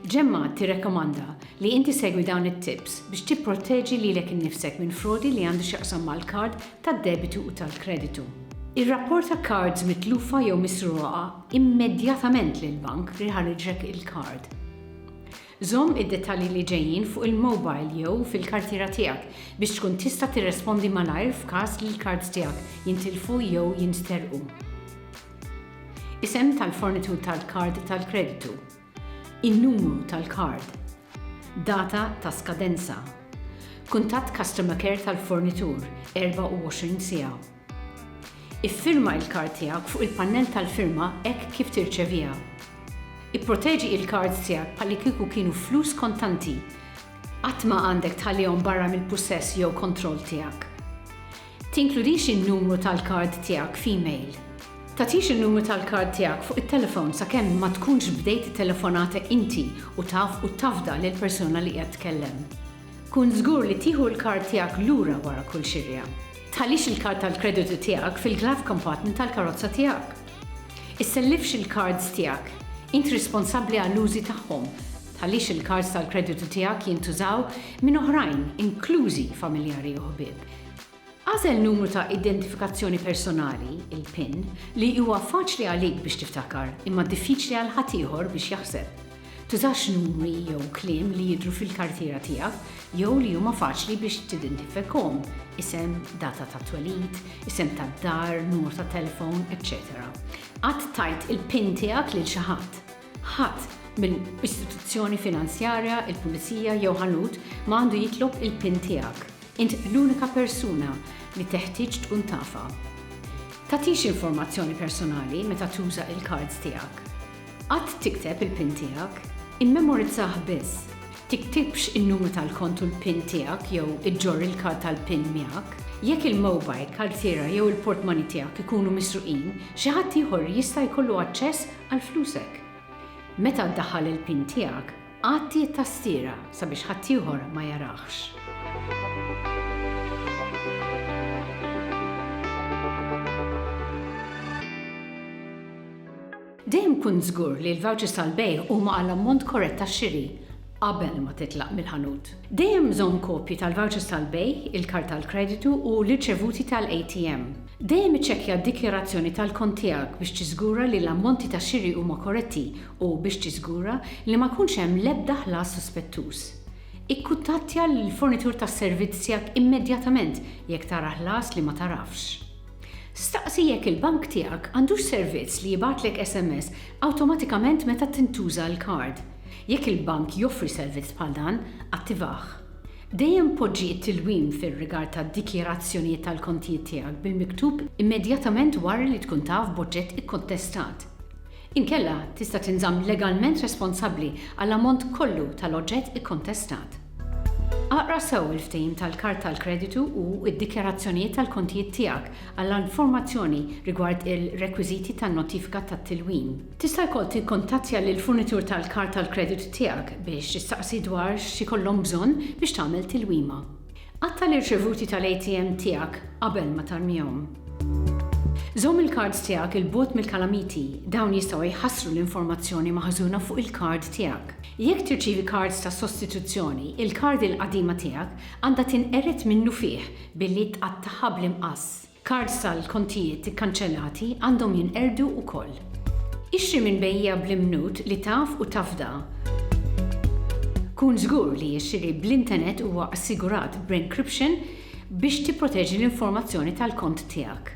Ġemma tirrakkomanda li inti segwi dawn it-tips biex tipprotteġi lilek innifsek minn frodi li għandu x'jaqsam mal-kard tad-debitu u tal-kreditu. Irrapporta kards mitlufa jew misruqa immedjatament lill-bank li ħariġlek il-kard. Żomm id-dettalji li ġejjin fuq il-mobile jew fil-kartiera tiegħek biex tkun tista' tirrespondi malajr f'każ li l-kards tiegħek jintilfu jew jinsterqu. Isem tal-fornitur tal-kard tal-kreditu. In-numru tal-kard. Data ta' skadenza. Kuntatt Customer Care tal-fornitur, 24 siegħa. Iffirma il-kard tiegħek fuq il-pannell tal-firma hekk kif tirċeviha. Ipproteġi il-kards tiegħek bħalli kieku kienu flus kontanti. Qatt ma għandek tħallihom barra mill-pussess jew kontroll tiegħek. Tinkludix in-numru tal-kard tiegħek f'email. Tagħtix in-numru tal-kard tiegħek fuq it-telefon sakemm ma tkunx bdejt it-telefonata inti u taf u tafda lill-persuna li qiegħed tkellem. Kun żgur li tieħu l-kard tiegħek lura wara kull xirja. Tħallix il-kard tal-kreditu tiegħek fil-glove compartment tal-karozza tiegħek. Issellifx il-kards tiegħek. Int responsabbli għall-użi tagħhom. Tħallix il-kards tal-kreditu tiegħek jintużaw minn oħrajn, inklużi familjari u ħbieb. Agħżel numru ta' identifikazzjoni personali, il-PIN, li huwa faċli għalik biex tiftakar imma diffiċli għal ħaddieħor biex jaħseb. Tużax numri jew kliem li jidhru fil-kartiera tiegħek jew li huma faċli biex tidintifikahom, isem, data tat-twelid, isem tad-dar, numru tat-telefon, eċċetera Qatt tgħid il-PIN tiegħek lil xi ħadd. Ħadd minn istituzzjoni finanzjarja, il-pulizija jew ħanut ma għandu jitlob il-pin tiegħek. Int l-unika persuna li teħtieġ tkun tafha. Tagħtix informazzjoni personali meta tuża il-kards tiegħek. Qatt tikteb il-pin tiegħek. Immemorizzah biss. Tiktibx in-numru tal-kont u l-pin tiegħek jew iġġorr il-kard tal-pin miegħek. Jekk il-mowbajl, kartiera jew il-portmani tiegħek ikunu misruqin, xi ħadd ieħor jista' jkollu aċċess għal flusek. Meta ddaħħal il-pin tiegħek, għatti t-tastiera sabiex ħaddieħor ma jarahx. Dejjem kun żgur li l-vouchers tal-bejgħ huma għall-ammont korrett tax-xiri. qabel ma titlaq mill-ħanut. Dejjem żomm kopji tal-vouchers tal-bejgħ, il-kard tal-kreditu u l-irċevuti tal-ATM. Dejjem iċċekkja d-dikjarazzjoni tal-kont tiegħek biex tiżgura li l-ammonti ta' xiri huma korretti u biex tiżgura li ma jkunx hemm l-ebda ħlas suspettuż. Ikkuttattja lill-fornitur tas-servizz tiegħek immedjatament jekk tara ħlas li ma tagħrafx. Staqsi jekk il-bank tiegħek għandux servizz li jibgħatlek SMS awtomatikament meta tintuża l-kard. Jekk il-bank joffri servizz bħal dan, attivah. Dejjem poġġi t-tilwim fir-rigward tad-dikjarazzjonijiet tal-kontijiet tiegħek bil-miktub immedjatament wara li tkun taf b'oġġett ikkontestat. Inkella, tista' tinżamm legalment responsabbli għall-ammont kollu tal-oġġett ikkontestat. Aqra sew il-ftehim tal-kard tal-kreditu u d-dikjarazzjonijiet tal-kontijiet tiegħek għall-informazzjoni rigward il-rekwiżiti tan-notifika tat-tilwim. Tista' wkoll tikkuntattja lill-furnitur tal-kard tal-kreditu tiegħek biex tistaqsi dwar x'ikollhom bżonn biex tagħmel tilwima. Qatta' l-irċevuti tal-ATM tiegħek qabel ma tarmihom. Żomm il-kards tiegħek 'il bogħod mill-kalamiti, dawn jistgħu jħassru l-informazzjoni maħżuna fuq il-kard tiegħek. Jekk tirċievi kards ta' sostituzzjoni, il-kard il-qadima tiegħek għandha tinqered minnufih billi tqattagħha bl-imqass. Kards tal-kontijiet ikkanċellati għandhom jinqerdu wkoll. Ixtri minn bejjiegħa bl-imnut li taf u tafda. Kun żgur li x-xiri bl-intenet huwa assigurat b'encryption biex tipproteġi l-informazzjoni tal-kont tiegħek.